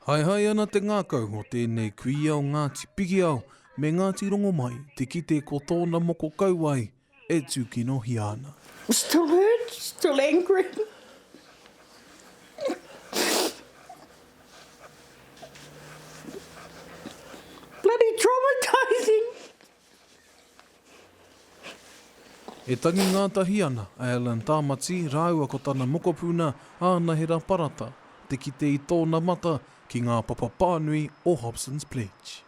Haehae ana te ngākau o tēnei kuia o Ngāti Pikiao me Ngāti Rongomai te kite ko tōna moko kauae e tūkinohia ana. I'm still hurt, still angry. Bloody traumatising! E tangi ngātahi ana a Alan Tāmati rāua ko tana mokopuna Ānahera Parata te kite i tōna mata ki ngā papa pānui o Hobson's Pledge.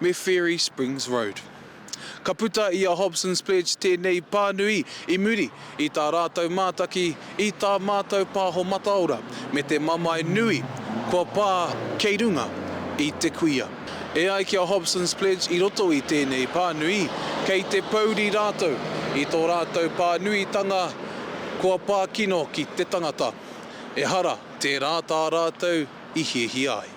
me Fairy Springs Road. Ka puta i a Hobson's Pledge tēnei pānui i muri i tā rātou mātaki i tā mātou pāho mataora me te mamae nui kua pā kei runga i te kuia. E ai ki a Hobson's Pledge i roto i tēnei pānui, kei te pouri rātou i tō rātou pānuitanga kua pā kino ki te tangata, ehara tērā tā rātou i hiahia ai.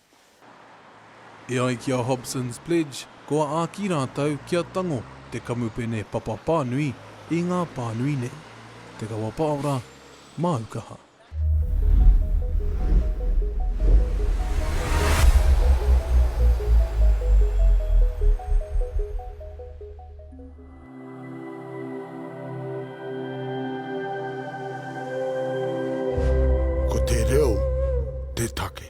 E ai ki a Hobson's Pledge, kua āki rātou kia tango te kamupene papa pānui i ngā pānui nei. Te Kawa Paora, māu kaha. Ko te reo te take.